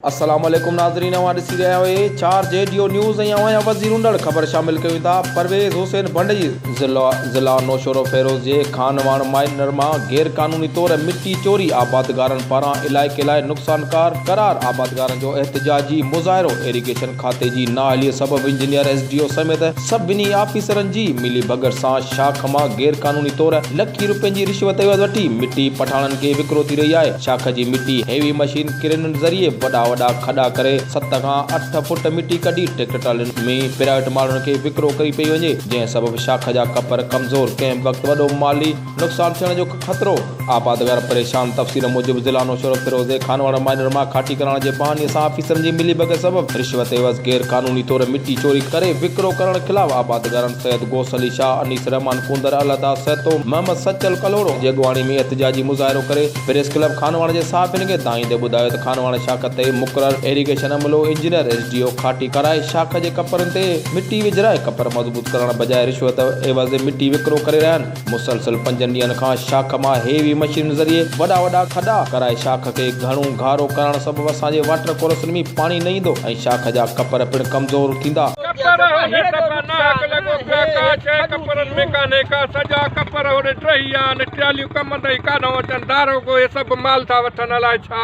السلام عليڪم ناظرين اوهان ڏسي رهيا آهيو اي چار جي ڊيو نيوز ۽ اوهان جا وزير هوندڙ خبر شامل ڪيون ٿا پرويز حسين ڀنڊجي ضلع ضلع نوشهروفيروز جي خانواڻ مائنر مان غير قانوني طور مٽي چوري آبادگارن پاران علائقي لاء نقصانڪار قرار آبادگارن جو احتجاجي مظاهرو ايريگيشن کاتي جي نااهلي سبب انجنيئر ايس ڊي او سميت سڀني آفيسرن جي ملي ڀڳت سان شاخ مان غير قانوني طور لکين روپين جي رشوت وٺي مٽي پٺاڻن کي وڪرو ٿي رهي آهي شاخ جي مٽي هيوي مشين ڪرينن ذريعي وڏا وڏا کڏا ڪري ست کان اٺ فوٽ مٽي ڪڍي ٽريڪٽر ٽرالين ۾ پرائيويٽ ماڻهن کي وڪرو ڪئي پئي وڃي جنهن سبب شاخ جا ڪپر ڪمزور ڪنهن به وقت وڏو مالي نقصان ٿيڻ جو خطرو آبادگار پريشان تفصيل موجب ضلع نوشهرو فيروزي خانواڙ مائينر مان کاٽي ڪرائڻ جي بهاني سان آفيسرن جي ملي ڀڳت سبب رشوت عيوض غير قانوني طور مٽي چوري ڪري وڪرو ڪرڻ خلاف آبادگارن سيد غوث علي شاهه انيس رحمان ڪونڌر الهداد سهتو محمد سچل ڪلهوڙو جي اڳواڻي ۾ احتجاجي مظاهرو ڪري پريس ڪلب خانواڻ جي صحافين کي دانهيندي ٻڌايو ته خانواڻ شاخ تي مقرر ايريگيشن عملو انجنيئر ايس ڊي او کاٽي ڪرائي شاخ جي ڪپرن تي مٽي وجهرائي ڪپر مضبوط ڪرڻ بجاء رشوت عيوض مٽي وڪرو ڪري رهيا آهن مسلسل پنجن ڏينهن کان شاخ مان هيوي مشينن ذريعي وڏا وڏا کڏا ڪرائي شاخ کي گهڻو گهارو ڪرڻ سبب اسان جي واٽر ڪورسن ۾ پاڻي نه ايندو ۽ شاخ جا ڪپر پڻ ڪمزور ٿيندا. ڪپر هن دفعا ناحق لڳو پيا ڪا شيء ڪپرن ۾ ڪانهي ڪا سڄا ڪپر هوڏي ٽهي ويا آهن ٽياليون ڪم تائين ڪاڏهون اچن داروغو هي سڀ مال ٿا وٺن الائي ڇا.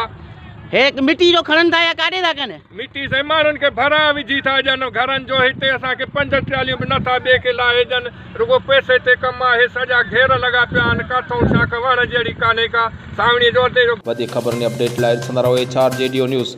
هي مٽي جو کڻن ٿا يا ڪاڏي ٿا ڪن. مٽي سائين ماڻهن کي ڀرائان وجهي ٿا ڏين گهرن جو هتي اسان کي پنج ٽراليون به نه ٿا ٻئي کي لاهي ڏين رڳو پئسي تي ڪم آهي سڄا گهير لڳا پيا آهن ڪاٿئون شاخ وهڻ جهڙي ڪانهي ڪا سانوڻي جو ادي جو وڌيڪ خبرن ۽ اپڊيٽ لاء ڏسندا رهو ايڇ آر جي ڊيو نيوز.